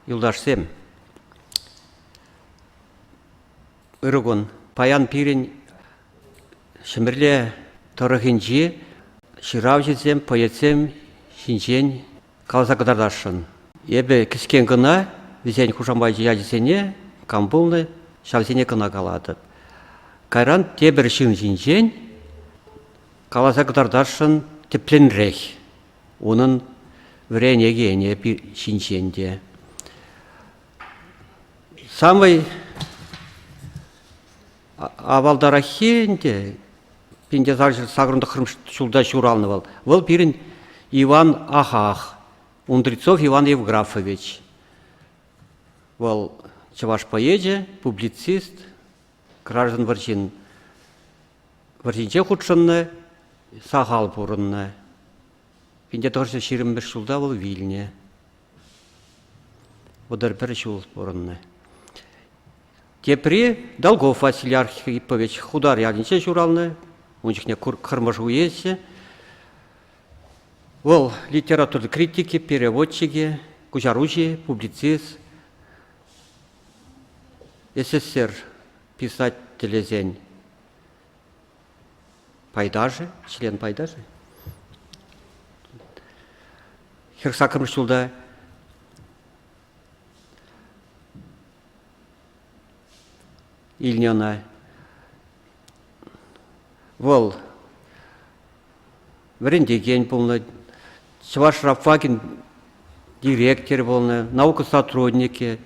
Юлташсем, ырӑ кун. Паян пирӗн Ҫӗмӗрле тӑрӑхӗнчи ҫыравҫӑсем поэтсем ҫинчен каласа кӑтартасшӑн. Эпӗ кӗскен кӑна вӗсен хушамачӗ ячӗсене кам пулнӑ, ҫавсене кӑна калатӑп. Кайран тепӗр ҫын ҫинчен каласа кӑтартасшӑн тӗплӗнрех. Унӑн вӗренекенӗ ҫинчен те. Самый авалтараххи ӗнтӗ Пинтесарҫӑ сакӑртӑхрӑм ҫулта ҫуралнӑ вӑл. Вӑл пирӗн Иван Ахах, Ундрицов Иван Евграфович. Вӑл чӑваш поэчӗ, публицист, граждан вӑрҫин вӑрҫинче хутшӑннӑ, сахал пурӑннӑ. 1925 ҫулта вӑл вилнӗ. Вӑтӑр пӗр ҫул пурӑннӑ. Тепри Долгов Василий Архипович Худар ялӗнче ҫуралнӑ. Ун чухне Кӑрмӑш уесӗ. Вӑл литература критикӗ, переводчикӗ, куҫаруҫи, публицист. СССР писателӗсен пайташӗ, член пайташӗ. Хӗр саккӑрмӗш ҫулта илнӗ ӑна Вӑл вӗрентекен пулнӑ, Чӑваш Рафакин директор пулнӑ, наука сотрудникӗ,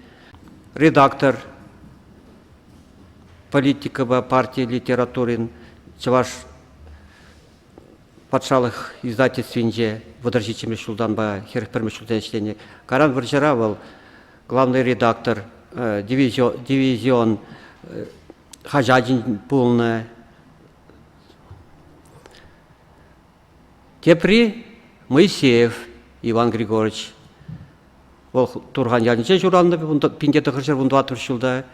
редактор политикӑпа парти литературин Чӑваш патшалӑх издательствинче вӑтӑрҫиччӗмӗш ҫултанпа хӗрӗх пӗрмӗш ҫултан ӗҫленӗ. Каран вӑрҫӑра вӑл главный редактор, дивизион, дивизион хаҫатӗн пулнӑ. Тепри Моисеев Иван Григорьевич. Вӑл Турхан ялӗнче ҫуралнӑ, пинте тӑхӑрҫӗр вун тӑваттӑр ҫулта.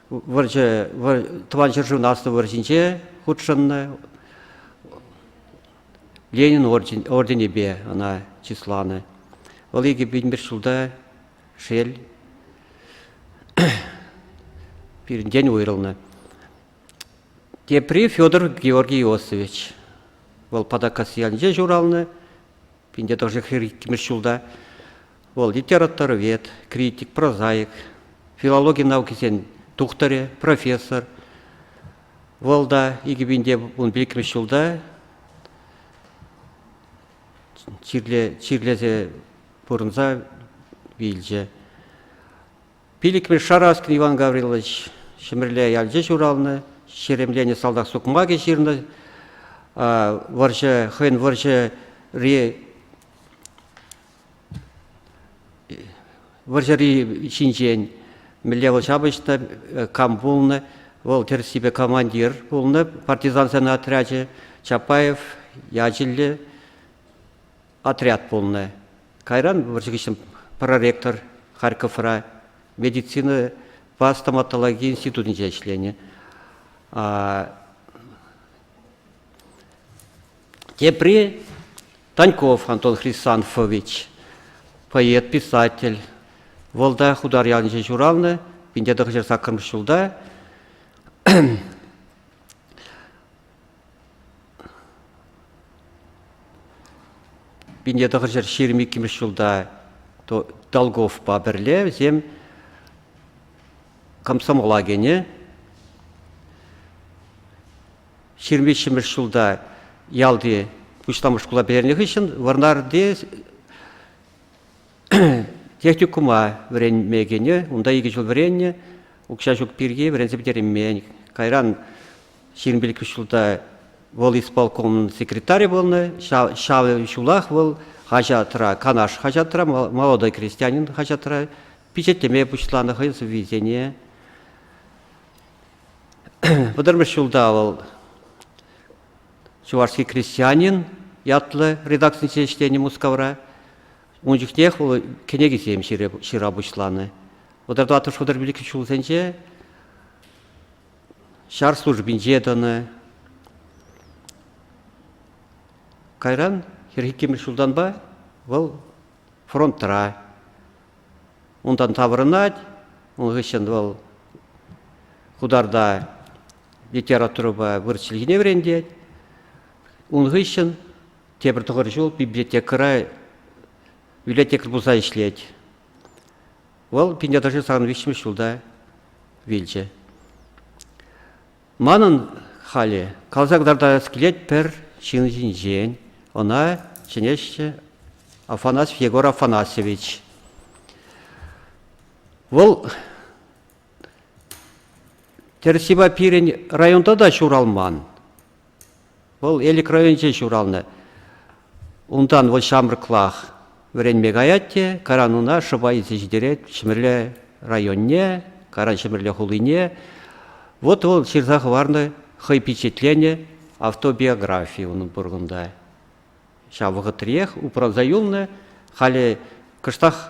Вӑрҫӑ, тӑван ҫӗршывӑн аслӑ вӑрҫинче хутшӑннӑ. Ленин орденӗпе ӑна чысланӑ. Вӑл икӗ пин ҫулта Шел, пирӗнтен уйрӑлнӑ. Тепри Федор Георгий Иосифович. Вӑл Патакас ялӗнче ҫуралнӑ, пинте тӑршшӗхри иккӗмӗш ҫулта. Вӑл литераторвед, критик, прозаик, филологи наукисен тухтӑрӗ, профессор. Вӑл та икӗ пинте ун пилӗкмӗш ҫулта чирле, чирлесе пурӑнса вилчӗ. Пилӗкмӗш Шараскин Иван Гаврилович Ҫӗмӗрле ялче ҫуралнӑ, ҫеремленӗ салтак сукмакӗ ҫырнӑ. Вӑрҫӑ, хӑйӗн вӑрҫӑри вӑрҫӑри ҫинчен мӗнле вӑл ҫапӑҫнӑ, кам пулнӑ, вӑл тӗрӗссипе командир пулнӑ, партизансен отрячӗ, Чапаев ячӗллӗ Отряд пулнӑ. Кайран вӑрҫӑ хыҫҫӑн проректор Харьковра медицинӑпа стоматологи институтӗнче ӗҫленӗ. Тепри Таньков Антон Хрисанфович, поэт, писатель. Вӑл та Хутар ялӗнче ҫуралнӑ, пинте тӑхӑҫар саккӑрмӗш ҫулта. Пинте тӑхӑрҫӗр ҫирӗм иккӗмӗш ҫулта Долговпа пӗрле вӗсем комсомола кӗнӗ. Ҫирӗм виҫҫӗмӗш ҫулта ялти пуҫламӑш шкула пӗтернӗ хыҫҫӑн Вӑрнарти техникума вӗренме кӗнӗ. Унта икӗ ҫул вӗреннӗ. Укҫа ҫук пирки вӗренсе пӗтереймен. Кайран ҫирӗм пилӗкмӗш ҫулта вӑл исполкомӑн секретарӗ пулнӑ. Ҫав ҫулах вӑл хаҫатра, Канаш хаҫатра, «Молодой крестьянин» хаҫатра пичетлеме пуҫланӑ хӑйӗн сӑввисене. Вӑтӑрмӗш ҫулта вӑл «Чувашский крестьянин» ятлӑ редакцине ӗҫленӗ Мускавра. Ун чухнех вӑл кӗнекисем ҫырса пуҫланӑ. Вӑтӑр тӑваттӑш вӑтӑр пилӗкмӗш ҫулсенче ҫар службинче тӑнӑ. Кайран хӗр иккӗмӗш ҫултанпа вӑл фронтра. Унтан таврӑнать, ун хыҫҫӑн вӑл Хударта литературӑпа вырӑс чӗлхине вӗрентет. Ун хыҫҫӑн тепӗр тӑхӑр ҫул библиотекӑра библиотекарь пулса ӗҫлет. Вӑл Пинтертӑшри сан виҫҫӗмӗш ҫулта вилчӗ. Манӑн халӗ каласа кӑтартас килет пӗр ҫын ҫинчен. Ӑна чӗнеҫҫӗ Афанасьев Егор Афанасьевич. Вӑл тӗрӗссипе пирӗн районта та ҫуралман. Вӑл Элӗк районӗнче ҫуралнӑ. Унтан вӑл ҫамрӑклах вӗренме каять те Карануна шӑпа илсе ҫитерет Ҫӗмӗрле районне, Каран Ҫӗмӗрле хулине. Вот вӑл ҫырса хӑварнӑ, хӑй пичетленӗ автобиографи унӑн пуркунта. Ҫав вӑхӑтриех упранса юлнӑ, халӗ кӑштах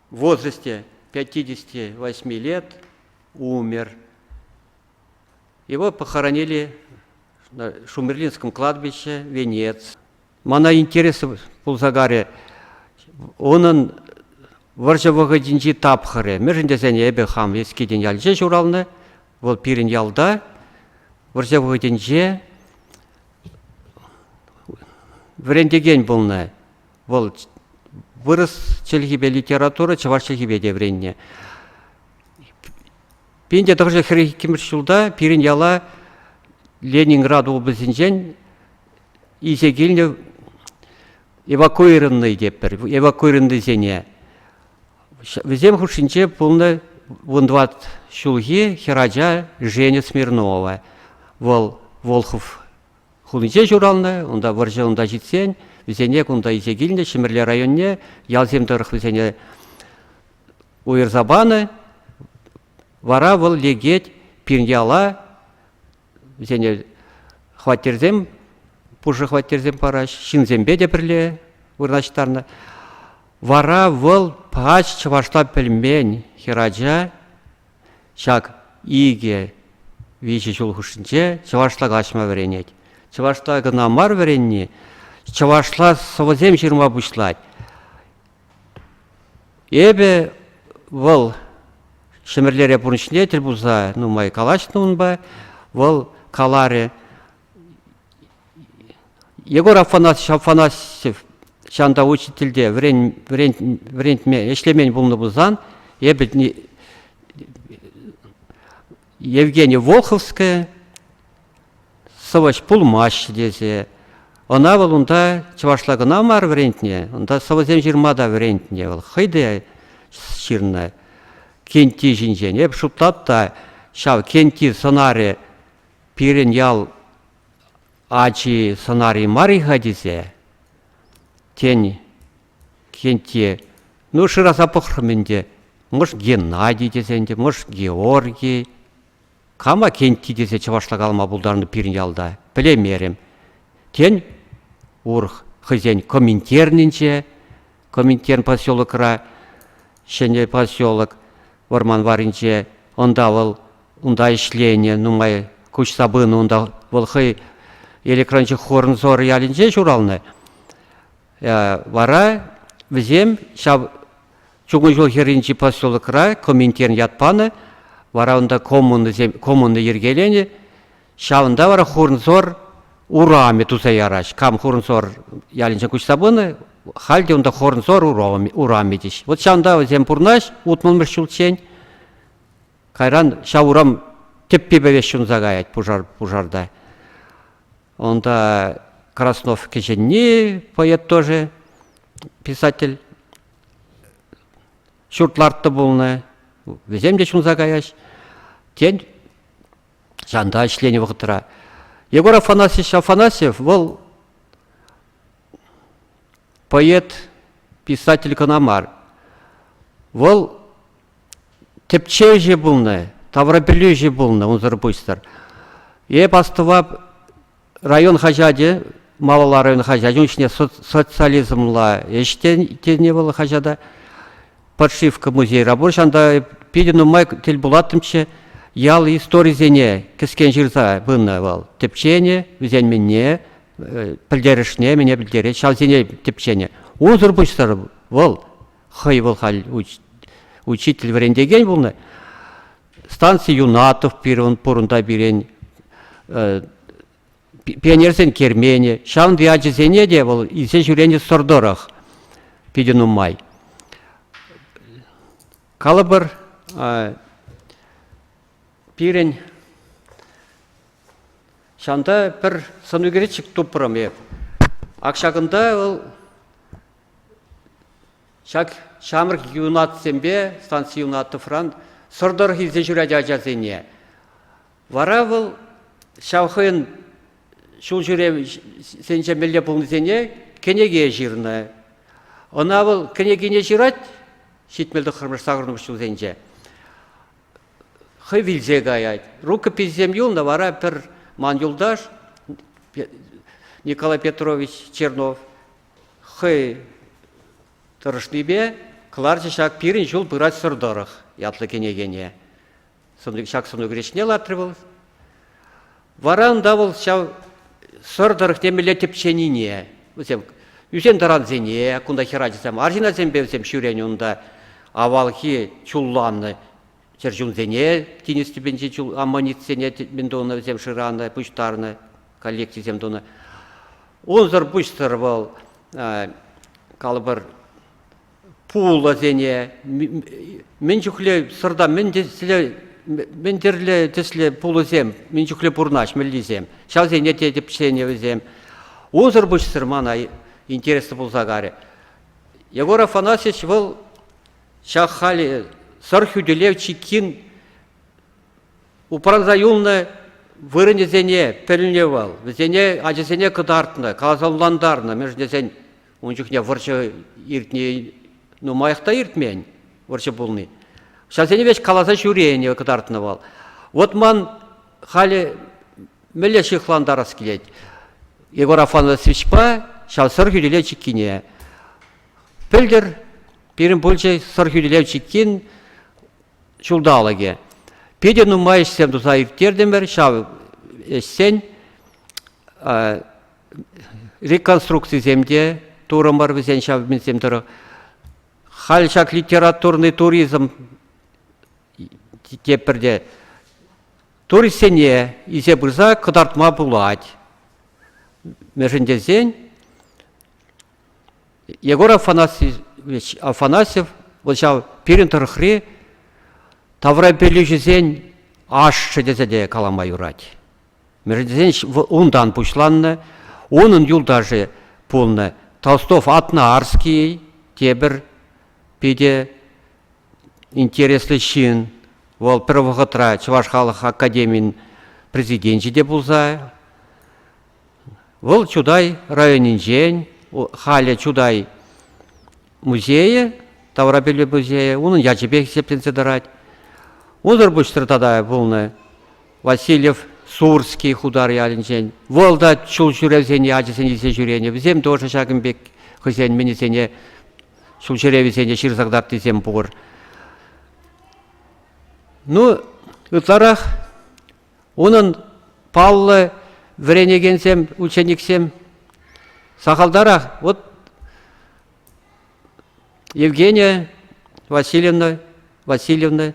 В возрасте 58 лет умер. Его похоронили на Шумерлинском кладбище, Венец. Мана интересы пулса карӗ, унӑн вӑрҫӑ вӑхӑтӗнчи тапхӑрӗ. Мӗншӗн тесен эпӗ хам Эскиден ялӗнче ҫуралнӑ, вӑл пирӗн ялта. Вӑрҫӑ вӑхӑтӗнче вӗрентекен пулнӑ. Вӑл вырӑс чӗлхипе литература чӑваш чӗлхипе те вӗреннӗ. Пин те тӑхӑрҫӑ хӗрӗх иккӗмӗш ҫулта пирӗн яла Ленинград облаҫӗнчен илсе килнӗ эвакуированнӑй тетпӗр, эвакуированнӑйсене. Вӗсем хушшинче пулнӑ вун тӑват ҫулхи хӗрача Женя Смирнова. Вӑл Волхов Хулинче ҫуралнӑ, унта вӑрҫӑ унта ҫитсен вӗсене кунта илсе килнӗ Ҫӗмӗрле районне ялсем тӑрӑх вӗсене уйӑрса панӑ. Вара вӑл лекет пирняла вӗсене хваттерсем, пушӑ хваттерсем параҫ, ҫынсемпе те пӗрле вырнаҫтарнӑ. Вара вӑл пач чӑвашла пӗлмен хӗрача Ҫак икӗ-виҫӗ ҫул хушшинче чӑвашла каҫма вӗренет. Чӑвашла кӑна мар вӗренни, чӑвашла сӑвӑсем ҫырма пуҫлать. Эпӗ вӑл Ҫӗмӗрлере пурнӑҫне тӗл пулса нумай калаҫнӑ унпа, вӑл каларӗ, Егор Афанасьев ҫанта учительте вӗрентме ӗҫлемен пулнӑ пулсан, эпӗ Евгения Волховская сӑвӑҫ пулмасть тесе, ӑна вӑл унта чӑвашла кӑна мар вӗрентнӗ, унта сӑвӑсем ҫырма та вӗрентнӗ, вӑл хӑй те ҫырнӑ кенти ҫинчен. Эп шутлап та, ҫав кенти сӑнарӗ пирӗн ял ачи сӑнар-и мар-и-ха тесе, тен, кенте, ну, шыраса пӑхрӑм ӗнтӗ, мӑш Геннадий тесе ӗнтӗ, мӑш Георгий, кама Кенти тесе чӑвашла калама пултарнӑ пирӗн ялта, пӗлеймерӗм. Тен, урӑх хӑйсен коминтернинче Коминтерн поселокра ҫӗнӗ поселок вӑрман варринче. Унта вӑл унта ӗҫленӗ нумай куҫса пынӑ унта вӑл хӑй электрончӑ Хорнзор ялӗнче ҫуралнӑ. Вара вӗсем ҫав чукун ҫул хӗрринчи поселокра Коминтерн ят панӑ. Вара унта коммуна коммуна йӗркеленӗ. Ҫавӑнта вара Хурнсор урамӗ туса ярать. Кам Хурнсор ялӗнче куҫса пынӑ, халь те унта Хорнсор урамӗ теҫ. Вот ҫавӑнта вӗсем пурнаҫ утмӑлмӗш ҫулччен. Кайран ҫав урам тӗппи пӗвеш ҫунса каять пушар пушарта. Унта Краснов кӗҫӗнни поэт тоже, писатель. Ҫурт лартнӑ пулнӑ. Вӗсем те ҫунса каяҫ. Тен, Ҫанта ӗҫленӗ вӑхӑтра. Егор Афанасьевич Афанасьев вӑл поэт, писатель кӑна мар. Вӑл тӗпчевҫӗ пулнӑ, таврапӗлӳҫӗ пулнӑ унсӑр пуҫсӑр. Эп астӑвап район хаҫачӗ малалла район хаҫачӗн ӗҫне социализмла ӗҫ тенӗ вӑл хаҫата. Подшивка музейра пур. Ҫанта питӗ нумай тӗл пулаттӑмччӗ. Ял историсене кӗскен ҫырса пынӑ вӑл. Тӗпченӗ, вӗсенменне, пӗлтерӗшне мене пӗлтерет, ҫавсене тӗпченӗ. Унсӑр пуҫсӑр вӑл хӑй вӑл халь учитель вӗрентекен пулнӑ. станци Юнатов пирӗн пурӑнта пирӗн, пионерсен керменӗ, ҫавӑн ячӗсене те вӑл илсе ҫӳренӗ сӑр тӑрӑх питӗ нумай. Калӑпӑр, пирӗн ҫанта пӗр сӑнӳкерчӗк тупрӑм эп. Ак ҫакӑнта вӑл Ҫак ҫамрӑк юнатсемпе станци Юнатовран сӑр тӑрӑх илсе ҫӳрать ачасене. Вара вӑл ҫав хӑйӗн ҫул ҫӳревсенче мелле пулнисене кӗнеке ҫырнӑ. Ӑна вӑл кӗнекине ҫырать ҫитмӗл тӑххӑрмӗш сакӑрмӗш ҫулсенче. Хӑй вилсе каять. Рукописьсем юлнӑ вара пӗр ман юлташ Николай Петрович Чернов хӑй тӑрӑшнипе кӑларчӗ ҫак пирӗн ҫул пыратсӑр тӑрӑх ятлӑ кӗнекене. Ҫак сӑнӳкереш ҫине лартрӗ вӑл. Вара унта вӑл ҫав сӑр тӑрӑх темелле тӗпченине, вӗсем ӳсен-тӑрансене, кунта хӗр ачасем, арҫынасемпе вӗсем ҫӳренӗ унта, авалхи чулланнӑ чӗрчунсене тинӗс тӗпӗнчи чул аммонитсене мӗн тунӑ вӗсем шыранӑ, пуҫтарнӑ, коллекцисем тунӑ. Унсӑр пуҫсӑр вӑл калӑпӑр пулӑсене мӗн чухле сӑрта мӗн тӗслӗ мӗн тӗрлӗ тӗслӗ пулӑсем мӗн чухле пурӑнаҫмӗллисем ҫавсене те тӗпченӗ вӗсем. Унсӑр пуҫсӑр мана интереслӗ пулса карӗ. Егор Афанасьевич вӑл ҫак халӗ сӑр хӳтӗлев чиккин упранса юлнӑ вырӑнӗсене пӗлнӗ вӑл, вӗсене ачасене кӑтартнӑ, каласа мӗншӗн тесен ун чухне вӑрҫӑ иртни нумаях та иртмен вӑрҫӑ пулни. Ҫасене веҫ каласа ҫӳренӗ кӑтартнӑ вӑл. Вот ман халӗ мӗнле ҫыхлантарас килет Егор Афанасьевичпа ҫав сӑр хӳтӗлев чиккине. Пӗлтӗр пирӗн пулчӗ Сӑрхӳтӗлев чиккин ҫулталӑкӗ. Питӗ нумай ӗҫсем туса ирттертӗмӗр ҫав ӗҫсен. Реконструкцисем те турӑмӑр вӗсен ҫав мелсем тӑрӑх. Халь ҫак литературный туризм тепӗрте туристсене илсе пырса кӑтартма пулать. Мӗншӗн тесен Егор Афанасьевич Афанасьев вӑл ҫав пирӗн тӑрӑхри таврапӗлӳҫӗсен ашшӗ тесе те калама юрать. Мерседесен унтан пуҫланнӑ. Унӑн юлташӗ пулнӑ Толстов Атнаарский тепӗр питӗ интереслӗ ҫын. Вӑл пӗр вӑхӑтра Чӑваш халӑх академийӗн президенчӗ те пулса Вӑл Чутай районӗнчен, халӗ Чутай музейӗ, таврапӗлӳ музейӗ, унӑн ячӗпех хисепленсе тӑрать. Унӑр пуҫтӑр тата пулнӑ Васильев Сурский хутар ялӗнчен. Вӑл та чул ҫӳревсен ячӗсене илсе ҫӳренӗ. Вӗсем тоже ҫакӑн пек хӑйсен мӗнӗсене, ҫул ҫӳревӗсене ҫырса кӑтартнисем пур. Ну, ытларах Унӑн паллӑ вӗренекенсем, учениксем сахалтарах вот Евгения Васильевна, Васильевна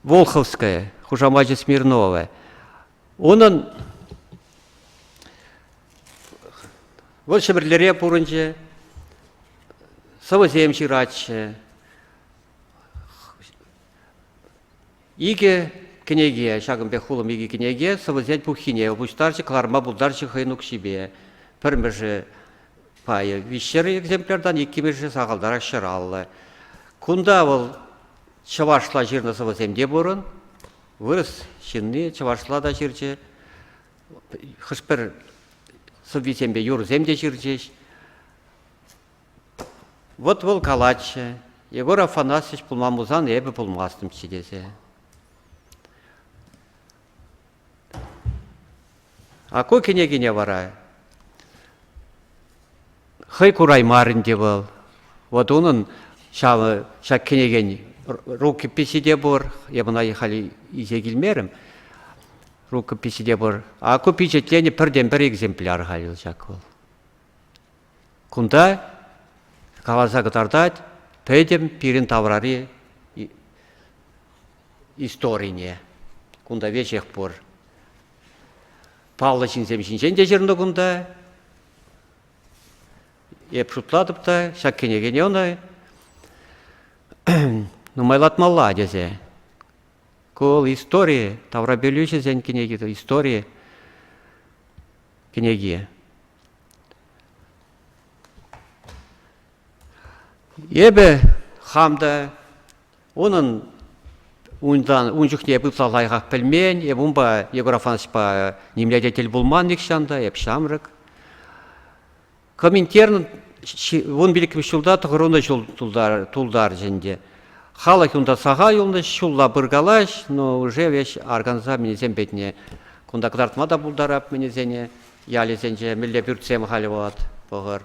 Волховская, хушамачӗ Смирнова. Унӑн вӑл Ҫӗпӗрлӗре пурӑнчӗ, сӑвӑсем ҫыратчӗ, Икӗ кӗнеке, ҫакӑн пек хулӑм икӗ кӗнеке сӑвӑсен пуххине пуҫтарчӗ, кӑларма пултарчӗ хӑйӗн укҫипе. Пӗрмӗшӗ пайӗ виҫҫӗр экземпляртан, иккӗмӗшӗ сахалтарах ҫӗраллӑ. Кунта вӑл чӑвашла ҫырнӑ сӑвӑсем те пурӑн. Вырӑс ҫынни чӑвашла та ҫырчӗ. Хӑш-пӗр сӑввисемпе юрӑсем те ҫырчӗҫ. Вӑт вӑл калатчӗ, Егор Афанасьевич пулман пулсан эпӗ пулмастӑмччӗ тесе. А ку кӗнекине вара хӑй кураймарӗн те вӑл. Вот унӑн ҫав, ҫак кӗнекен рукописи те пур, я ӑна халь илсе килмерӗм, рукописи те пур. А ку пичетленӗ пӗртен-пӗр экземпляр халь ҫак вӑл. Кунта каласа кӑтартать пӗтӗм пирӗн таврари историне. Кунта веҫех пур. Паллӑ ҫынсем ҫинчен те ҫырнӑ кунта. Эп шутлатӑп та, ҫак кӗнекене ӑна нумайлатмалла тесе. Ку истори, таврапӗлӳҫӗсен кӗнеки истори кӗнеке. Эпӗ хам та унӑн унтан ун чухне пытла лайӑхах пӗлмен, эп унпа Егор Афанасьевпа нимле те тӗл пулман нихҫан та, эп ҫамрӑк. Коминтерн вун пилӗкмӗш ҫулта тӑхӑрвуннӑ ҫул тултарчӗ ӗнтӗ. Халӑх унта сахал юлнӑ, ҫулла пыркалаҫ, но уже веҫ арканса мӗнесем петне кунта кӑтартма та пултарап мӗнесене ялӗсенче мӗнле пӳртсем халӗ вӑхӑт пӑхӑр.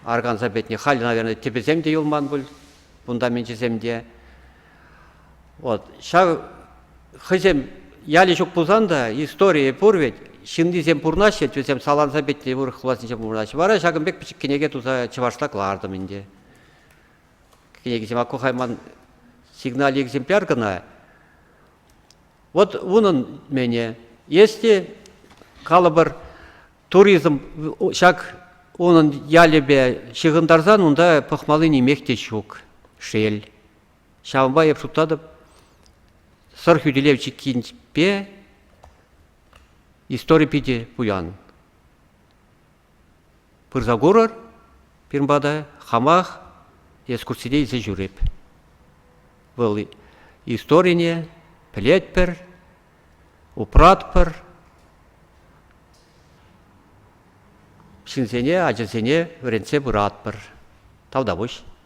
Арканса петне халь, наверное, тӗпӗсем те юлман пуль, кунта менчесем те. Вот ҫав хӑйсем ялӗ ҫук пулсан та историйӗ пур ведь ҫыннисем пурӑнаҫҫӗ вӗсем саланса пӗтнӗ вырӑх влаҫӗнче пурӑнаҫҫӗ вара ҫакӑн пек пӗчӗк кӗнеке туса чӑвашла кӑлартӑм ӗнтӗ кӗнекисем аккухайман сигналь экземпляр кӑна вот унӑн мене есть те калӑпӑр туризм ҫак унӑн ялӗпе ҫыхӑнтарсан унта пӑхмалли нимех те ҫук шел Ҫавӑнпа эп шутлатӑп, Сӑр хӳтӗлев чиккинчпе истори питӗ пуян. Пырса курӑр пирӗн пата, хамах экскурсине илсе ҫӳреп. Вӑл историне пӗлетпӗр, упратпӑр, ҫынсене, ачасене вӗрентсе пыратпӑр. Тавтапуҫ.